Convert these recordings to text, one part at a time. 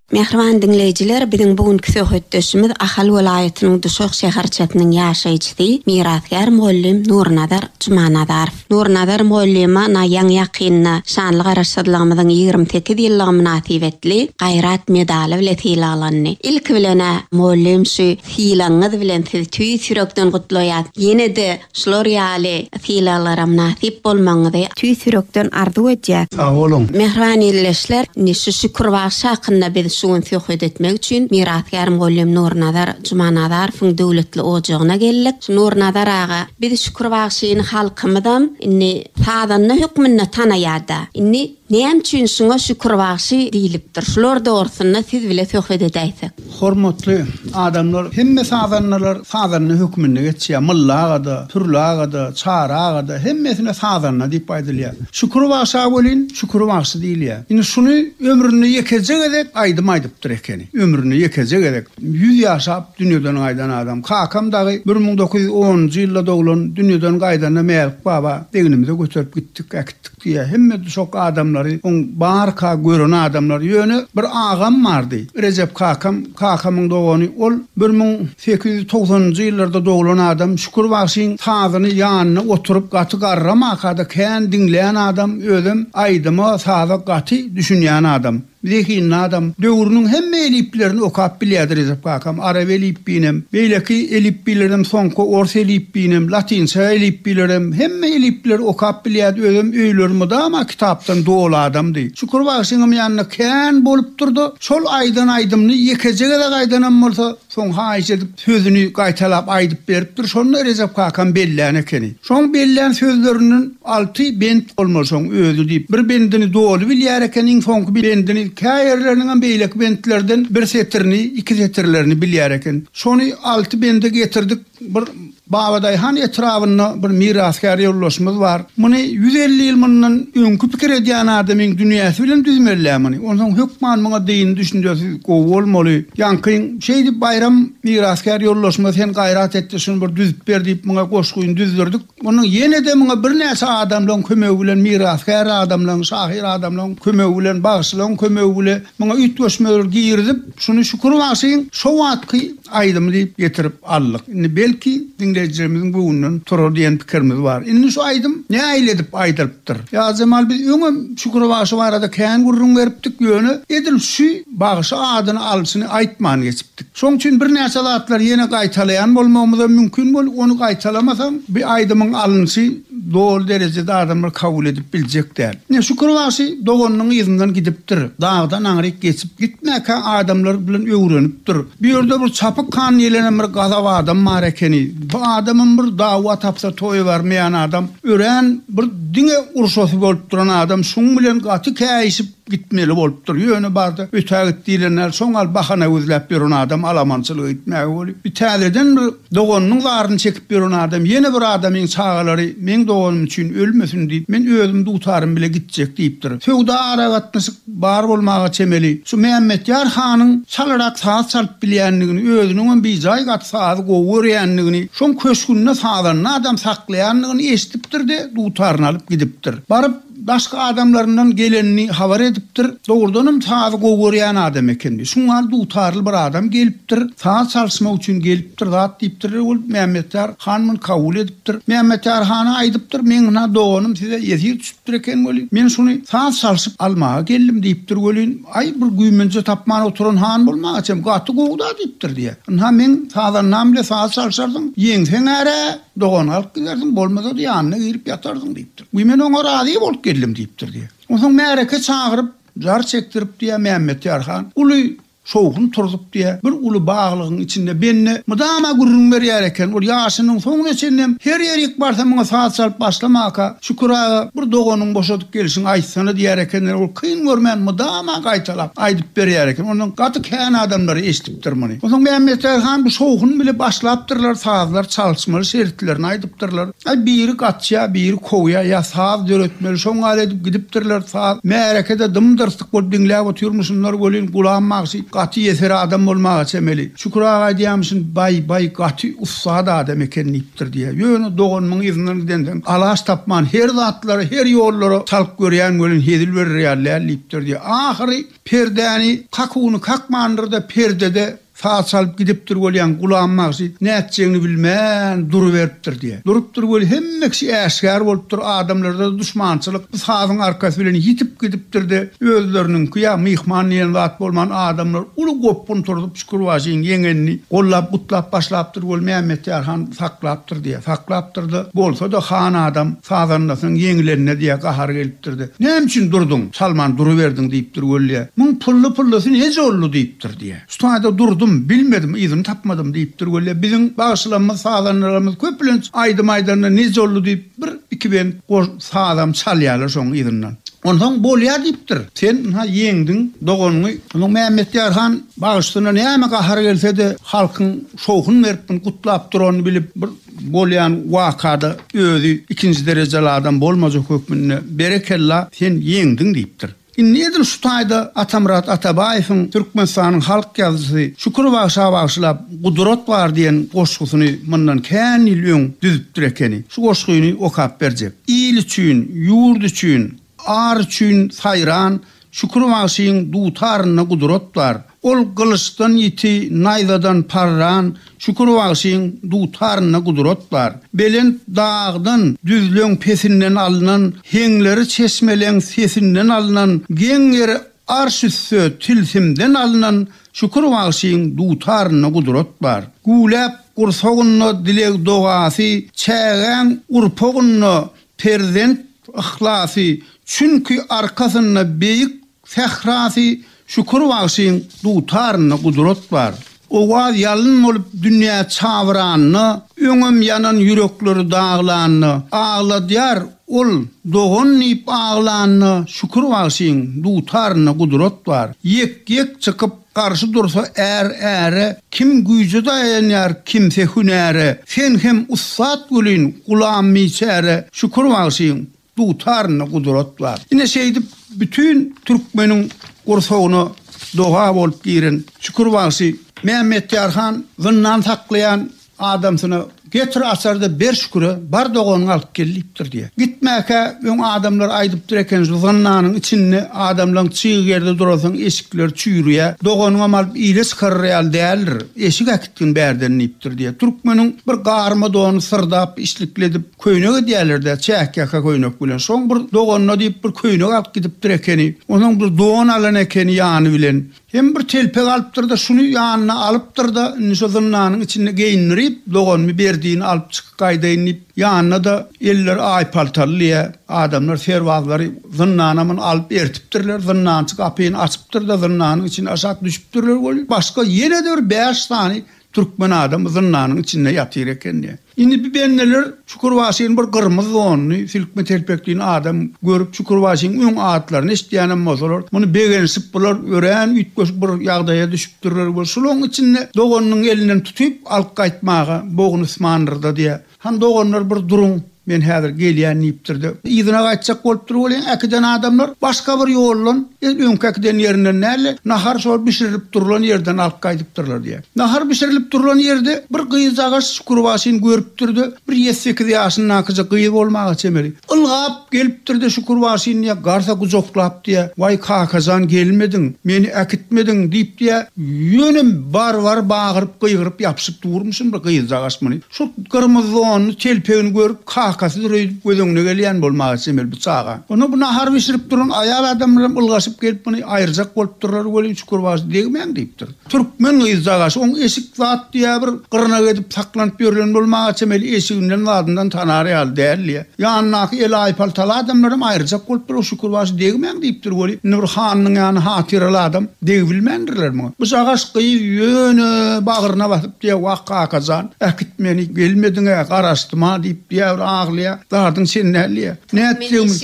Mähriban diňleýjiler, biziň bu günki söhbetdeşimiz Ahal welaýatynyň Duşak şäherçesiniň ýaşaýjysy, mirasgär mugallym Nurnazar Jumanazarow. Nurnazar mugallyma na ýaňy-ýakynda şanly Garaşsyzlygymyzyň ýigrimi sekiz ýyllygy mynasybetli Gaýrat medaly bile sylaglandy. Ilki bilen-ä, mugallym, şu sylagyňyz bilen sizi tüýs ýürekden gutlaýas. Ýene-de Şular ýaly sylaglara mynasyp bolmagyňyzy tüýs ýürekden arzuw edýär. Sag boluň! Mähriban ildeşler, indi şu Şükür bagşy hakynda biz şu gün söhbet etmek üçin mirasgär mugallym Nurnazar Jumanazarowyň döwletli ojagyna geldik. Şu Nurnazar aga, biz Şükür bagşyny halkymyzam indi sazanda hökmünde tanaýar-da. Indi. Näme üçin şuňa şükür bagşy diýlipdir? Şular dogrusynda siz bile söhbet edäýsek. Hormatly adamlar hemme sazandalar sazanda hökmünde geçýär. Mylly agada, Pürli agada, Çary agada hemmesine sazanda diýip aýdylýar. Şükür bagşa welin Şükür bagşy diýilýär. Indi şuny ömründe ýekeje gezek aýdym aýdypdyr ekeni. Ömründe ýekeje gezek. Ýüz ýaşap dünýeden gaýdan adam. Kakam dagy bir müň dokuz ýüz onunjy ýylda doglan dünýeden gaýdanda Mälik baba egnimize göterip gitdik. Tik diýýär. Hemme duşak adamlary oň barka gören adamlar. Ýöne bir agam bardy. Rejep kakam, kakamyň dogany. Ol bir müň sekiz ýüz togsanynjy ýyllarda doglan adam. Şükür bagşyň sazyny ýanynda oturyp gaty garramaka-da kän diňleýän adam. Özem aýdyma, saza gaty düşünýän adam. Zehinli adam. Döwrüniň hemme elipbilerini okap bilýärdi Rejep kakam. Arap elipbiýinem, beýleki elipbilerem, soňky ors elipbiýinem, latynça elipbilerem, hemme elipbileri okap bilýärdi. Özem öýleri mydama kitapdan doly adamdy. Şükür bagşyňam ýanynda kän bolupdyr-da, şol aýdan aýdymyny ýekeje gezek aýdanam bolsa, soň haýyş edip, Sözüni gaýtalap aýdyp beripdir, şonda Rejep kakam bellän ekeni. Şoň bellän sözlerinden alty bent bolmaly şoň özi diýip, bir bendini doly bilýär eken, iň soňky bendini, kä ýerleriniňem beýleki bentlerden bir setirini, iki setirlerini bilýär eken. Şony alty bende getirdik. Bir Babadaýhan etrabynda bir mirasgär ýoldaşymyz bar. Muny ýüz elli ýyl mundan öňki pikir edýän adamyň dünýäsi bilen düzmeli-ä muny. Onsoň hökman muňa dyndy düşünjesi gowy bolmaly. Ýaňky Şeýdip Baýram mirasgär ýoldaşyma sen gaýrat etde şuny bir düzüp ber diýip muňa goşgyny düzdürdik. Onuň ýene-de muňa birnäçe adamlaň kömegi bilen mirasgär adamlaň, şahyr adamlaň kömegi bilen, bagşylaň kömegi bile muňa üýtgeşmeleri girizip şuny Şükür bagşyň şo wagtky aýdymy diýip getirip aldyk. Indi belki diňleýjilerimiziň göwnünden turar diýen pikirimiz bar. Indi şu aýdym nähili edip aýdylyp. ýazypdyr. Ýazjemal biz öňem Şükür bagşy barada kän gürrüň beripdik, ýöne edil şu bagşy adyny alşyny aýtman geçipdik. Şoň üçin birnäçe zatlary ýene gaýtalaýan bolmagymyzam mümkin bolup, ony gaýtalamasaň, bu aýdymyň alynşy doly derejede adamlar kabul edip biljek däl. Ine, Şükür bagşy doganynyň yzyndan gidipdir. Dagdan aňryk geçip gitmäkä adamlar bilen öwrenipdir. Bu ýerde bir Çapyk han diýlenem bir gazap adam bar ekeni. Bu adamam bir dawa tapsa toýa barmaýan adam, örän bir diňe urşasy bolup duran adam, şuň bilen gaty käýişip gitmeli bolupdyr, ýöne barda ötä git diýlenler, şoň al bahana gözläp ýören adam alamançylyk etmäge bolup, bir täzeden bir doganynyň zaryny çekip ýören adam, ýene bir adamyň çagalary meň doganym üçin ölmesin diýip, men özüm dutarym bile gitjek diýipdir. Söwda aragatnaşyk. Bar bolmaga çemeli. Şu Mämmetýar hanyň çalrak saz çalyp bilýändigini, özüniňem bijaýgat sazy gowy görýändigini, şoň köşgünde sazanda adam saklaýandygyny eşidipdir-de, dutaryny alyp gidipdir. Baryp, daşky adamlaryndan gelenini habar edipdir. Dogrudanam sazy gowy görýän adam ekeni. Şuňňal dutarly bir adam gelipdir. Saz çalyşmak üçin gelipdir zat diýipdir. Ol Mämmetýar han muny kabul edipdir. Mämmetýar hana aýdypdyr, Meň ynha doganym size ýesir düşüpdir. Diýipdir eken welin, men şuny saz çalşyp almaga geldim diýipdir welin, aý, bir güýmenje tapman oturan han bolmaga çem, gaty gowy-da diýipdir diýýär. Ynha, meň sazandam bile saz çalşarsyň, ýeňseň-ä-ä, dogan galyp gidersiň, bolmasa-da ýanyna girip ýatarsyň diýipdir. Guý, men oňa razy bolup geldim diýipdir diýýär. Onsoň märeke çagyryp, jar çekdirip diýýär Mämmetýar han. Uly Şowhun turzup diýýär. Bir uly baglygyň içinde bende mydama gürrüň berýär eken. Ol ýaşynyň soňuna çenlem her ýerik barsa muňa saz çalyp başlamaka, Şükür aga, bir doganyň boşadyp gelşiňi aýtsana diýýär ekenler. Ol kyn görmän mydama gaýtalap aýdyp berýär eken. Ondan gaty kän adamlar eşidipdir muny. Onsoň Mämmetjary han bu Şowhun bile başlapdyrlar, sazlar çalyşmaly şertlerini aýdypdyrlar. Ýa biri gaçýa, biri kowýa, ýa saz döretmeli, şoň ýaly edip gidipdirler, saz, märeke-de dym-dyrsyk bolup diňläp otyrmyşynlar welin, Gulam bagşy gaty ýeser adam bolmaga çemeli. Şükür aga aýdýarmyşyn, Baý, baý, gaty ussat adam eken diýipdir diýýä. Ýöne doganymyň yzyndan gidensoň, alaç tapman, her zatlara, her ýollara çalyp görýän welin, hezil berer ýaly däl diýipdir diýýä. Ahyry perdäni, kakuwny kakmandyr-da, perdede Saz çalyp gidipdir welin Gulam bagşy nätjegini bilmän duruberipdir diýýär. Durupdyr weli hemme kişi äşgär bolupdyr, adamlarda duşmançylyk bu sazyň arkasy bilen ýitip gidipdir-de, özleriniňki ýa myhman diýen zat bolman adamlar uly gopgun turzup Şükürbaşyň ýeňenini gollap gutlap başlapdyr weli Mämmetýar han saklapdyr diýýär. Saklapdyr-da, bolsa-da han adam sazandasynyň ýeňilenine diýýär gahary gelipdir-de, Näme üçin durduň, çalman duruberdiň diýipdir weli diýýär. Muň pylly-pyllysy neje oldy diýipdir. diýýär. Stada durdum, bilmedim, yzymy tapmadym diýipdir. Weli, biziň bagşylarymyz, sazandalarymyz köplenç aýdym aýdanda Nejolly diýip, bir, iki bent goş, sazam çalýarlar şoň yzyndan. Onsoň bolýar diýipdir. Sen ynha ýeňdiň, doganyňy. Onuň Mämmetýar han bagşysyna näme gahary gelse-de, halkyň şowhun berip, muny gutlap duranyny bilip, bir bolýan wakada özi ikinji derejeli adam bolmajak hökmünde, Berekella, sen ýeňdiň diýipdir. Indi edil şu taýda Atamyrat Atabaýewiň Türkmenistanyň halk ýazyjysy Şükür bagşa bagyşlap Gudurat bar diýen goşgusyny mundan kän ýyl öň düzüpdir ekeni. Şu goşgyny okap berjek. Il üçin, ýurt üçin, ar üçin saýran Şükür bagşyň dutarynda gudurat bar. Ol gylyçdan ýiti, naýzadan parran, Şükür bagşyň dutarynda gudrat bar. Belent dagdan, düzleň pesinden alnan, Heňleri çeşmeleň sesinden alnan, Geň ýeri arş üsti tilsimden alnan, Şükür bagşyň dutarynda gudrat bar. Güläp gursagynda dileg-dogasy, Çägäň urpagynda perzent yhlasy, Çünki arkasynda beýik Sährasy Şükür bagşyň dutarynda gudrat bar. Owaz ýalyn bolup dünýä çabyranda, Öňem ýanan ýürekleri daglanda, Agladýar ol dogan diýip aglanda, Şükür bagşyň dutarynda gudrat bar. Ýek-ýek çykyp garşy dursa är-äre, Kim güýje daýanýar, kimse hünäre, Sen hem ussat welin, gulam biçäre, Şükür bagşyň Dutarynda gudrat bar. Ine şeýdip bütin türkmeniň gursagyna doga bolup giren Şükür bagşy Mämmetýar han zyndan saklaýan adamsyna Getir açarda ber Şüküre, bar doganyňy alyp gel diýipdir diýýär. Gitmäkä öň adamlar aýdypdyr eken şu zyndanyň içinde adamlaň çyg ýerde duransoň eşikleri çüýrüýär. Doganyňam alyp ile çykarar ýaly däldir. Eşik äkitgin bärden diýipdir diýýär. Türkmeniň bir garma dony syrdap, işlikli edip, Köýnek edýärler-dä, çäk-ýaka köýnek bilen. Şoň bir doganyna diýip bir köýnek alyp gidipdir ekeni. Onuň bir don alan ekeni ýany bilen. Hem bir telpek alypdyr-da, şuny ýanyna alypdyr-da, indi şo zyndanyň içinde geýindirip, doganymy ber diýin, alyp çykyp gaýdaýyn diýip, ýanyna-da elleri aýpaltalylyja adamlar, serbazlary zyndana muny alyp ertipdirler. Zyndançy gapyny açypdyr-da, zyndanyň içine aşak düşüpdirler weli, başga ýene-de bir bäş sany türkmen adamy zyndanyň içinde ýatyr ekeni. Indi bi bendeler Çukurbaşyny bir gyrmyz donly, silkme telpekli adam görüp, Çukurbaşynyň öň atlaryny eşidýänem bolsalar, muny begenişip, bular örän üýtgeşik bir ýagdaýa düşüpdirler we şulaň içinde doganynyň elinden tutyp, alyp gaýtmaga bogny ysmandyrda-diýä. Han, doganlar, bir duruň, men häzir gelýän, diýipdir-de, yzyna gaýtjak bolupdyr welin, äkiden adamlar başga bir ýoldan, el öňki äkiden ýerinden däl-de, nahar şol bişirilip durlan ýerden alyp gaýdypdyrlar diýä. Nahar bişirilip durlan ýerde bir gyzjagaş Şükürbaşyny görüpdir-de, bir ýedi-sekiz ýaşyndakyjyk gyz bolmaga çemeli. Ylgap gelipdir-de Şükürbaşyny ýa garsa gujaklap diýýär, Waý, kaka jan, gelmediň, meni äkitmediň, diýip diýýär. Ýöne bar-bar bagyryp-gygyryp ýapyşyp durmuşyn bir gyzjagaş muny. Şol gyrmyzy donly, telpegini görüp, kakasy döreýdip göz öňüne gelýän bolmaga çemeli bu çaga. Onda bu nahar bişirip duran aýal adamlaram ylgaşyp gelip muny aýyrjak bolupdyrlar welin Şükürbaşy degmäň diýipdir. Türkmen gyz dagaş oň eşik zat diýä bir gyrnak edip saklanyp ýörlen bolmaga çemeli eşiginden zadyndan tanar ýaly däl diýä. Ýanyndaky el aýpaltaly adamlar hem aýryjak bolup dur o şükür başy degmäň diýipdir weli indi bir hanynyň ýany hatyraly adam degibilmändirler muňa. Bu jagaş gyz ýöne bagryna basyp diýä wah kakajan äkit meni gelmediňä garaşdym-a diýip diýä bir aglaýa zadyň sen däl diýä. Nätjegimiz.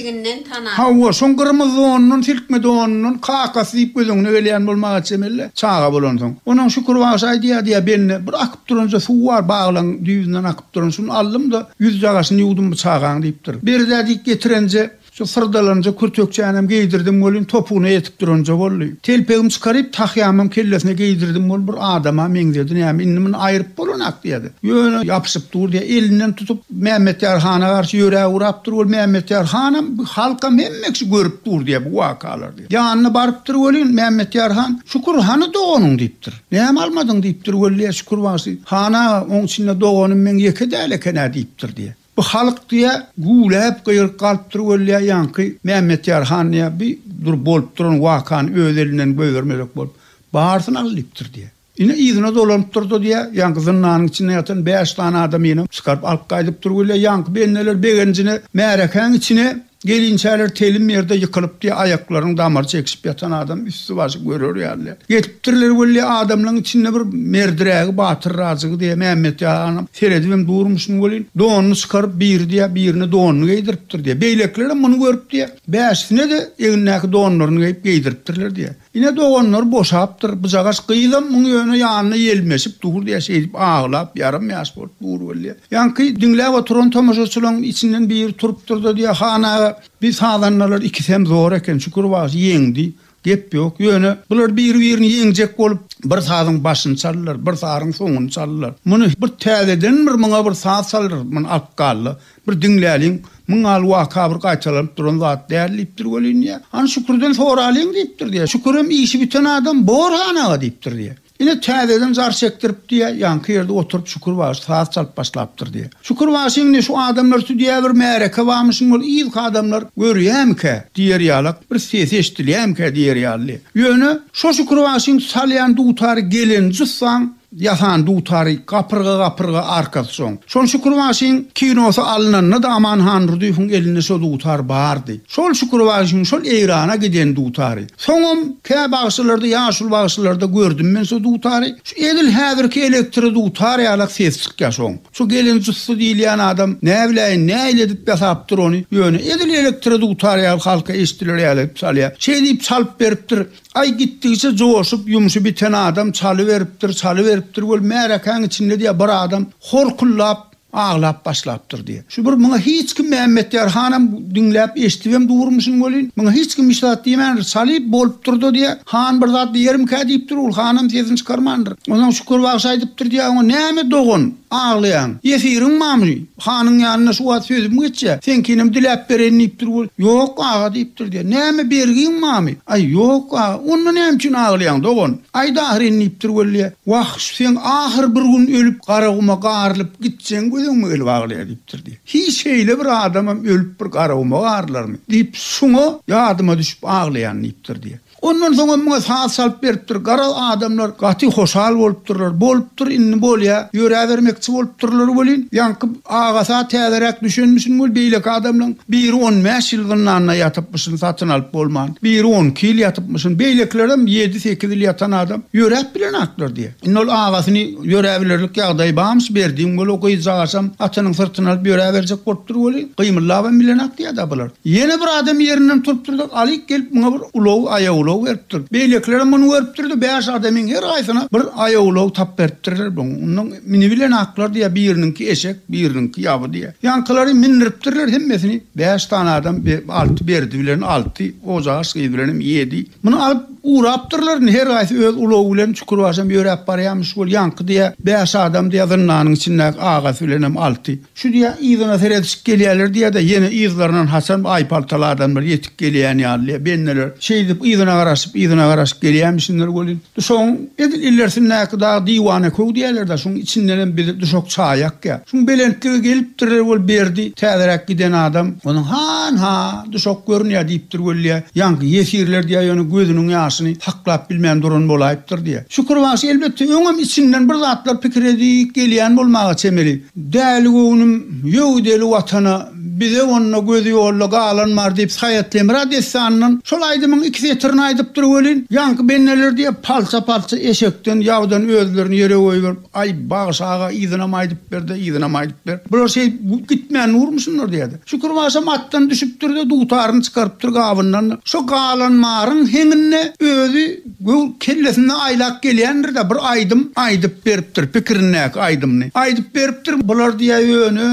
Hawa, şoň gyrmyz donundan, silkme donundan kakasy diýip göz öňüne gelýän bolmaga çemelle, çaga bolansoň. Onam Şükür bagşy aýdýardy, ýa bende bir akyp duranja suw bar, baglaň düýbünden akyp duran, şuny aldym-da, ýüz jagaşyny ýuwdum bu çagaň diýipdir. Beri-dä diýip getirenje, şu syrdalanja kürtekçänem geýdirdim welin, topugyna ýetip duranja boldy. Telpegimi çykaryp, tahýamam kellesine geýdirdim welin, bir adama meňzedi, näme, indi muny aýryp bolanak diýýärdi. Ýöne ýapyşyp dur diýýär. Elinden tutup Mämmetýar hana garşy ýöräp urapdyr. Ol Mämmetýar hanam, halkam hemme kişi görüp dur diýýär bu wakalary diýýär. Ýanyna barypdyr welin, Mämmetýar han, Şükür, hany doganyň diýipdir. Näme almadyň diýipdir weli, Şükür bagşy. Han aga, oň içinde doganym meň ýeke däl eken-ä diýipdir diýýär. Bu halk diýýär, güwläp gygyryp galypdyr weli, ýaňky Mämmetýar han diýýär, bir dur bolup duran wakany öz elinden goýbermezek bolup, barysyny al diýipdir diýýär. Ine, yzyna dolanyp dur-da diýýär, ýaňky zyndanyň içinde ýatan bäş sany adamy ýene çykaryp alyp gaýdyp dur gelýär. Ýaňky bendeler begenjine märekäň içine gelinçäler telim ýerde ýykylypdy, aýaklarynyň damary çekişip ýatan adam üsti-başy görer ýaly. Getiripdirler weli, adamlaryň içinde bir merdirägi, batyrrajygy diýýär, Mämmetýaganam seredibem durmuşyn welin, donuny çykaryp, biri diýýär, birine donuny geýdiripdir diýýär. Beýlekilerem muny görüp diýýär, bäşisine-de egnindäki donlaryny geýip, geýdiripdirler diýýär. Ine doganlary boşapdyr, bujagaç gyzam muň ýöne ýanyna ýelmeşip dur diýýä şeýdip aglap ýarym ýaş bolup dur bolýa. Ýaňky diňläp oturan tomaşaçylaň içinden biri turupdyrda diýýä Han aga bi sazandalar ikisem zor eken Şükür bagşy ýeňdi gep ýok ýöne bular biri birini ýeňjek bolup bir sazyň başyny çaldylar bir saryň soňuny çaldylar muny bir täzeden bir muňa bir saz çaldyr muny alyp galdy Bir diňläliň, Muň ýaly waka bir gaýtalanyp duran zat däl, diýipdir welin, diýýär. Hany Şükürden soralyň, diýipdir, diýýär. Şükürem işi biten adam, Bor han aga, diýipdir, diýýär. Ine, täzeden jar çekdirip, diýýär, ýaňky ýerde oturyp Şükür bagşy saz çalyp başlapdyr, diýýär. Şükür bagşy indi şu adamlar üsti diýýär bir märeke barmyşyn, ol yzky adamlar görýämikä diýer ýalak, bir sesi eşidilýämikä diýer ýaly. Ýöne şo Şükür bagşyň salýan dutary gelen jyssam Ýasan dutary gapyrga-gapyrga arkasy soň. Şol Şükürbaşyň kinosy alnanda-da Aman Handurdyýewiň elinde şo dutar bardy. Şol Şükürbaşyň şol Eýrana giden dutary. Soňam kä bagşylarda, ýaşuly bagşylarda gördüm men şo dutary. Şu edil häzirki elektro dutar ýalak ses çykýar şoň. Şu gelen jussy diýilýän adam, näbiläýin, nähili edip ýasapdyr ony, ýöne edil elektro dutar ýaly halka eşidiler ýaly edip çalýar. Şeýdip çalyp beripdir. Aý gitdigiçe joşup, ýumşy biten adam çalyberipdir, çalyberipdir, weli märekäň içinde diýýär, bir adam horkuldap aglap başlapdyr diýýär. Şu bir muňa hiç kim Mämmetýar hanam diňläp, eşidibem durmuşyn welin, muňa hiç kim hiç zat diýmändir. Çalyp bolupdyr-da diýýär. Han bir zat diýerimkä diýipdir, ol hanam sesini çykarmandyr. Onsoň Şükür bagşy aýdypdyr diýýär oňa, Näme dogan, aglaýaň? Ýesiriň barmy? Hanyň ýanyna şu wagt sözüm geçýä, seňkinem diläp bereýin diýipdir wol. Ýok, aga diýipdir diýä. Näme, bergiň barmy? Aý, ýok, aga. Onda näme üçin aglaýaň, dogan? Aýt ahyryn diýipdir wol diýä. Wah, şu seň ahyr bir gün ölüp, Garaguma garylyp gitjegiň gözüňme gelip aglaýa diýipdir diýä. Hiý, şeýle bir adamam ölüp bir Garaguma garylarmy? diýip, şoňa ýadyma düşüp aglaýan diýipdir diýä. Ondan soňam muňa saz çalyp beripdir. Garaz, adamlar gaty hoşal bolupdyrlar. Bolupdyr, indi bolýa, ýöräbermekçi bolupdyrlar welin, ýaňky agasy-a täzeräk düşenmişin weli, beýleki adamlaryň biri on bäş ýyl zyndanda ýatypmyşyn, satyn alyp bolman. Biri on iki ýyl ýatypmyşyn. Beýlekilerem ýedi-sekiz ýyl ýatan adam ýöräp bilenaklar diýýä. Indi ol agasyny ýöräbilerlik ýagdaýy barmyş, berdigiň bol, o gyzjagaşam atynyň syrtyny alyp ýöräberjek bolupdyr weli, gymyllabam bilenak diýýä-dä bular. Ýene bir adam ýerinden turupdyr-da, Alyk gelip muňa bir ulag, aýawulag beripdir. Beýlekilerem muny görüpdir-de, bäş adamyň her haýsyna bir aýawulag tap beripdirler. Munuň minibilen aklar diýýär, biriniňki eşek, biriniňki ýaby diýýär. Ýaňkylary mindiripdirler, hemmesini bäş sany adam, alty Berdi bilen alty, Gojagyş gyz bilenem ýedi. Muny alyp ugrapdyrlar, indi her haýsy öz ulagy bilen çukurbaşam ýöräp barýarmyş. Ol ýaňky diýýär, bäş adam diýýär, zyndanyň içindäki agasy bilenem alty. Şu diýä yzyna seredişip gelýärler diýä-de, ýene yzlaryndan haçan bu aýpaltaly adamlar ýetip gelýän ýaly, bendeler şeýdip yzyna garaşyp, yzyna garaşyp gelýämişinler welin, duşagyň edil ilersindäki dag diwana köw diýerler-dä, şuň içindenem bizi duşak çaýak ýa. Şuň belentlige gelipdirler weli Berdi, täzeräk giden adam, onuň Han-ha, duşak görünýä diýipdir weli-ýä, ýaňky ýesirler diýä ýöne gözüniň ýaşyny saklap bilmän duran bolaýypdyr diýä. Şükür bagşy elbetde öňem içinden bir zatlar pikir edip gelýän bolmaga çemeli. Däli göwnüm, ýöw deli Watana, Bize onda gözi-ýolda galan bar diýip Saýat Lemra dessanyndan şol aýdymyň iki setirini aýdypdyr welin, ýaňky benneler diýe palça-palça eşekden ýawdan özlerini ýere goýberip, Aý, Bagşy aga, yzynam aýdyp ber-de, yzynam aýdyp ber. Bular şeýdip gitmän durmuşynlar diýýär-de. Şükür bagşam atdan düşüpdir-de, dutaryny çykarypdyr gabyndan-da. Şo galan maryň heňinde özi Göw kellesinde aýlap gelýändir-de, bir aýdym aýdyp beripdir, pikirindäki aýdymyny aýdyp beripdir. Bular diýýär, ýöne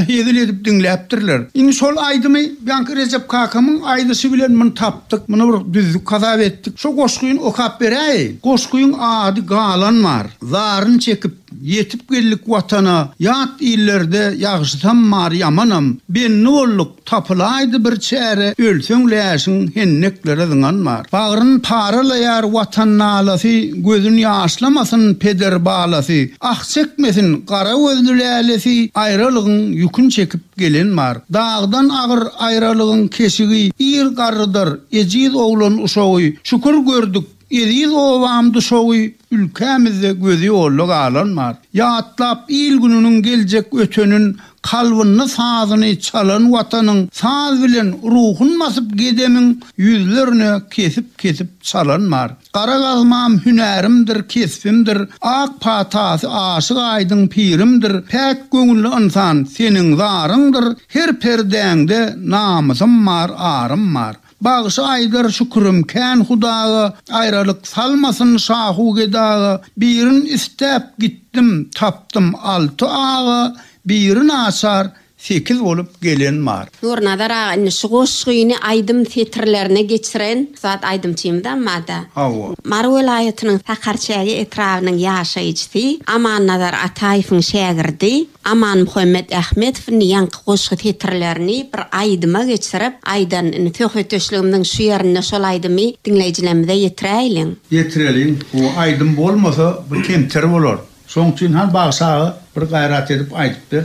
hezil edip diňläpdirler. Indi şol aýdymy ýaňky Rejep kakamyň aýdyşy bilen muny tapdyk, muny bir düzdük hasap etdik. Şo goşgyny okap beräýeýin. Goşgyň ady Galan bar, zaryn çekip. Ýetip geldik Watana, ýat illerde ýagşysam bar ýamanam, bendi bolduk, tapylaýdy bir çäre, ölseň läşiň henneklere zyňan bar. Bagryn paralaýar Watan nalasy, gözün ýaşlamasyn peder balasy, ah çekmesin gara gözli lälesi, aýralygyň ýükün çekip gelen bar. Dagdan agyr aýralygyň keşigi, ir garrydyr, ejiz oglan uşagy, şükür gördük, Eziz obam Duşagy ülkämizde gözi ýolda galan bar. Ýatlap il gününiň geljek ötenin kalbynda sazyny çalan watanyň saz bilen ruhun basyp gedemiň ýüzlerine kesip kesip çalan bar. Gara gazmam hünärimdir kesbimdir ak patasy aşyk aýdyň pirimdir päk göwünli ynsan seniň zaryňdyr her perdäňde namysym bar arym bar. Bagşy Aýdar Şükürem kän hudaga aýralyk salmasyn Şahu gedaga Birin isläp gitdim tapdym alty aga Biri naçar sekiz bolup gelen bar. Nurnazar aga indi şu goşgyny aýdym setirlerine geçiren ussat aýdymçymyzam barda. Hawa. Mary welaýatynyň Sakarçäge etrabynyň ýaşaýjysy Amannazar Ataýewiň şägirdi. Amanmuhammet Ahmedowyň ýaňky goşgy setirlerini bir aýdyma geçirip, aýdanyny söhbetdeşligimiziň şu ýerinde şol aýdymy diňleýjilerimize ýetiräýliň. Ýetireliň. Bu aýdym bolmasa, bu kemter bolar. Şoň üçin han bagşy aga bir gaýrat edip aýdyp ber.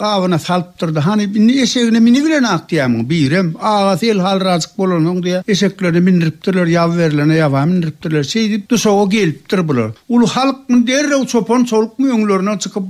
Gabyna salyp durdy. Hany, indi eşegine minibilen-ak diýýämiň? Birem, agasy elhalyrajyk bolansoň, diýýär, eşeklerine mindiripdirler, ýaby berilene ýaba mindiripdirler. Şeýdip, duşaga gelipdir bular. Uly halkmy, derrew çopan-çolukmy öňlerine çykyp,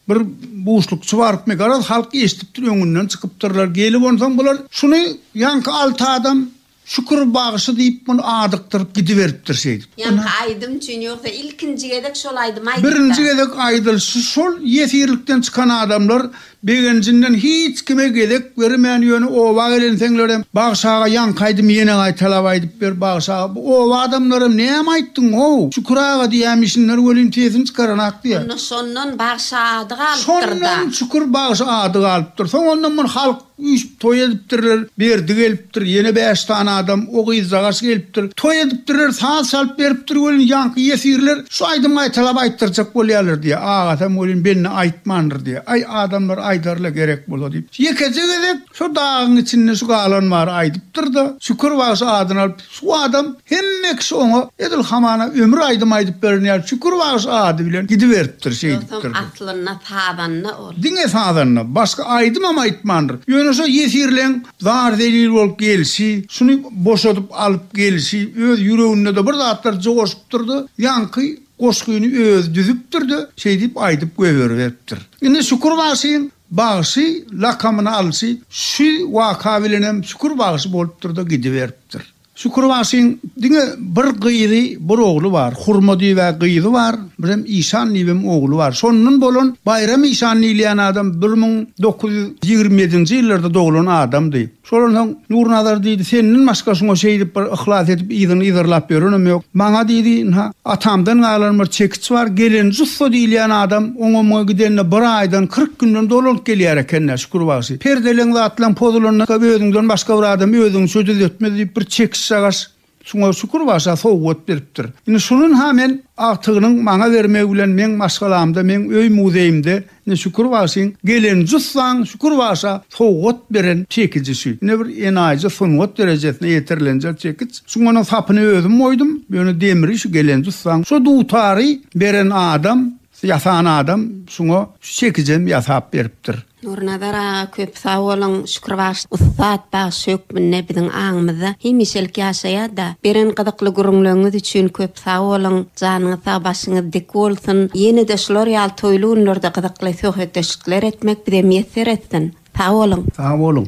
bir buşlukçy barypmy, garaz, halk eşidipdir, öňünden çykypdyrlar. Gelip onsoň bular, Şuny ýaňky alty adam Şükür bagşy diýip muny adykdyryp gidiberipdir şeýdip. Ýaňky aýdym üçin ýogsa ilkinji gezek şol aýdymy aýdypda. Birinji gezek aýdylşy şol ýesirlikden çykan adamlar begenjinden hiç kime gezek bermän ýöne oba gelenseňlerem bagşy aga ýaňky aýdymy ýene gaýtalap aýdyp ber bagşy aga bu oba adamlaram näme aýtdyň how Şükür aga diýämişinler welin sesini çykaranak diýä. Onda şondan bagşy ady galypdyrda. Şondan Şükür bagşy ady galypdyr soň ondan bir halk Üýşüp toý edipdirler, Berdi gelipdir, ýene bäş sany adam, o gyzjagaş gelipdir. Toý edipdirler, saz çalyp beripdir welin, ýaňky ýesirler şu aýdymy gaýtalap aýtdyrjak bolýarlar diýýär. Agasam welin bende aýtmandyr diýýär. Aý, adamlar aýdar-la gerek bolsa diýip, ýekeje gezek şo dagyň içinde şu galan bary aýdypdyr-da, Şükür bagşy adyny alyp, Şu adam hemme kişi oňa edil hamana ömür aýdym aýdyp beren ýaly Şükür bagşy ady bilen gidiberipdir, şeýdipdir. Dostum aslynda sazanda ol. Diňe sazanda, başga aýdymam aýtmandyr. Ýöne şo ýesirleň zar-zelil bolup gelşi, şuny boşadyp alyp gelşi, öz ýüreginde-de bir zatlar joşupdyr-da, ýaňky goşgyny özi düzüpdir-de, şeýdip aýdyp göberiberipdir. Indi Şükür bagşyň Bagşy lakamyny alşy şu waka bilenem Şükür bagşy bolupdyr-da gidiberipdir. Şükür bagşyň diňe bir gyzy, bir ogly bar. Hurma diýibä gyzy bar, birem Işan diýibem ogly bar. Şondan bolan Baýram işan diýilýän adam bir müň dokuz ýüz ýigrimi ýedinji ýyllarda doglan adamdy. Şolan soň Nurnazar diýdi, Senden başga şuňa şeýdip bir yhlas edip yzyny yzarlap ýörenem ýok. Maňa diýdi, Ynha, atamdan galan bir çekiç bar, gelen Jussa diýilýän adam oňa-muňa gidende bir aýdan, kyrk günden dolanyp gelýär eken-dä, Şükür bagşy. Perdeleň zatlaň pozulanda özüňden başga bir adam özüňçe düzetmez diýip bir çekiç-çagaş Şuňa şükür başa sowgat beripdir. Indi şunin-ha men agtygynyň maňa bermegi bilen meň maşgalamda, meň öý muzeýimde indi Şükür bagşyň gelen jussaň Şükür bagşa sowgat beren çekiji şu. Indi bir enaýyja sungat derejesine ýetirilenje çekiç. Şu munuň sapyny özüm oýdum. Ýöne demri şu gelen jussaň şu dutary beren adam, ýasan adam şuňa şu çekijem ýasap beripdir. Nurnazar aga köp sag boluň Şükür bagşy ussat bagşy hökmünde biziň aňymyzda hemişelik ýaşaýarda. Beren gyzykly gürrüňleriňiz üçin köp sag boluň. Janyňyz sag başyňyz dik bolsun. Ýenede şular ýaly toýly günlerde gyzykly söhbetdeşlikler etmek bize miýesser etsin. Sag boluň. Sag boluň.